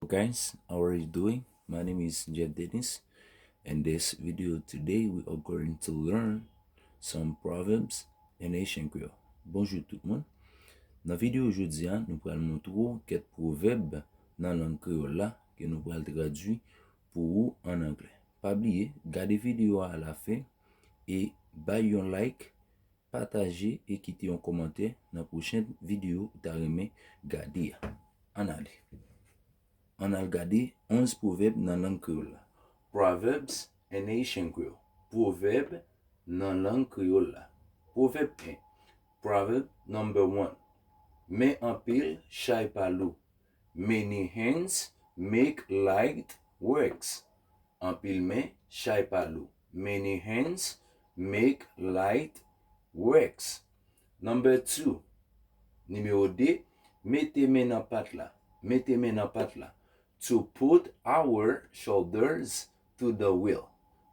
Guys how are you doing my name is Jeff Dennis in this video today we are going to learn some proverbs in Haitian Creole Bonjour tout moun Nan video jodi a, nou pral montre ou ket provèb nan lang kreyòl la ke nou pral tradui pou ou an anglè. Pa bliye, gade video a alafen e bay yon like Pataje e kite yon kòmantè nan pwochen videyo ou ta renmen gade a. Ann ale! Ann al gade 11 pwovèb nan lang kreyòl la. Proverbs in Haitian Creole Pwovèb nan lang kreyòl la Pwovèb 1 Proverb number one Men anpil chay pa lou Many hands make light works, Anpil men chay pa lou. Many hands make light works. Number two, Nimewo 2, Mete men nan pat la. Mete men nan pat la. To put our shoulders to the wheel.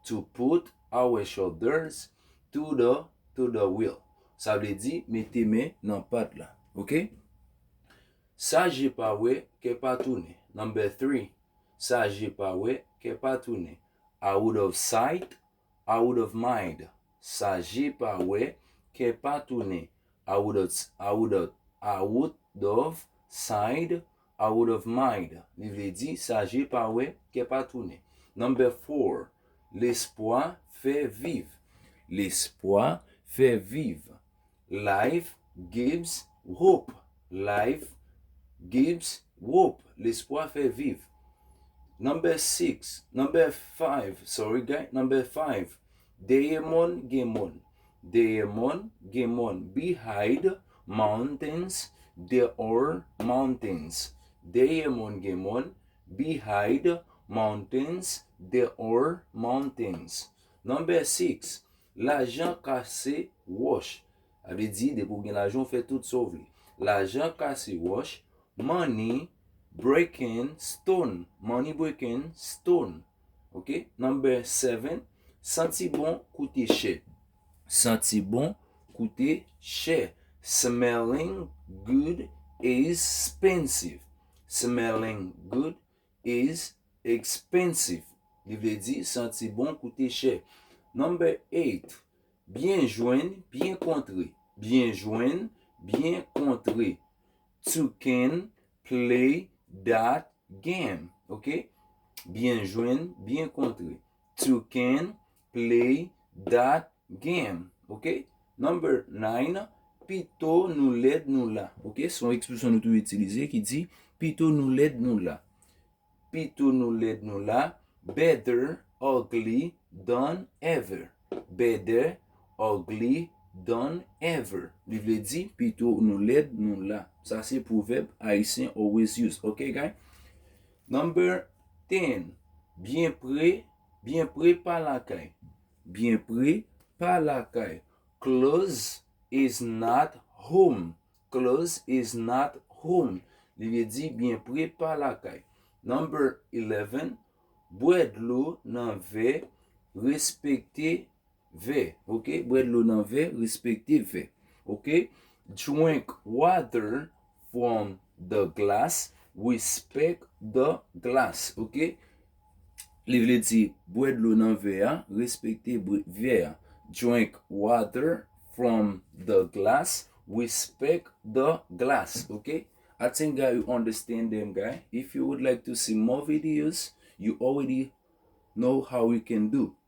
To put our shoulders to the to the wheel. Sa vle di mete men nan pat la. Ok? Sa je pa wè, kè pa tounen. Number three, Sa je pa wè, kè pa tounen. Out of sight, out of mind. Sa je pa wè, kè pa tounen. Out of, out of, out of sight, out of mind. Li vle di, sa je pa wè, kè pa tounen. Number four, Lespwa fè viv. Lespwa fè viv. Live, Gibbs, Hope Live, Gibbs, Hope Lespwa fè viv Number 6 Number 5 Sorry guy Number 5 Dèyè mòn gen mòn Dèyè mòn gen mòn Behind mountains There are mountains Dèyè mòn gen mòn Behind mountains There are mountains Number 6 Lajan ka se wòch. Sa vle di, depi ou gen lajan ou fè tout sa ou vle. Lajan ka se wòch, money, breaking, stone, money breaking, stone. Ok, number 7, Santi bon koute chè. Santi bon koute chè. Smelling good is expensive. Smelling good is expensive li vle di santi bon koute chè. Number 8, Byen jwenn, byen kontre Byen jwenn, byen kontre To can play that game, ok Byen jwenn, byen kontre To can Play that game ok Number 9 Pito nou lèd nou la ok Se yon ekspresyon nou toujou itilize ki di Pito nou lèd nou la Pito nou lèd nou la Better ugly than ever Better ugly than ever Li vle di Pito nou lèd nou la Sa se pwovèb Ayisyen always use ok guy Number 10 Byen pre Byen pre pa lakay. Byen pre pa lakay. Close is not home. Close is not home. Li vle di byen pre pa lakay. Number 11, Bwè dlo nan vè, respekte Vè, ok, bwè dlo nan vè, respekte vè, ok, drink water from the glass, respect the glass, ok, li vle di bwè dlo nan vè a, respekte vè a, drink water from the glass, respect the glass, ok. I think guy you understand them guy if you would like to see more videos you already know how you can do it.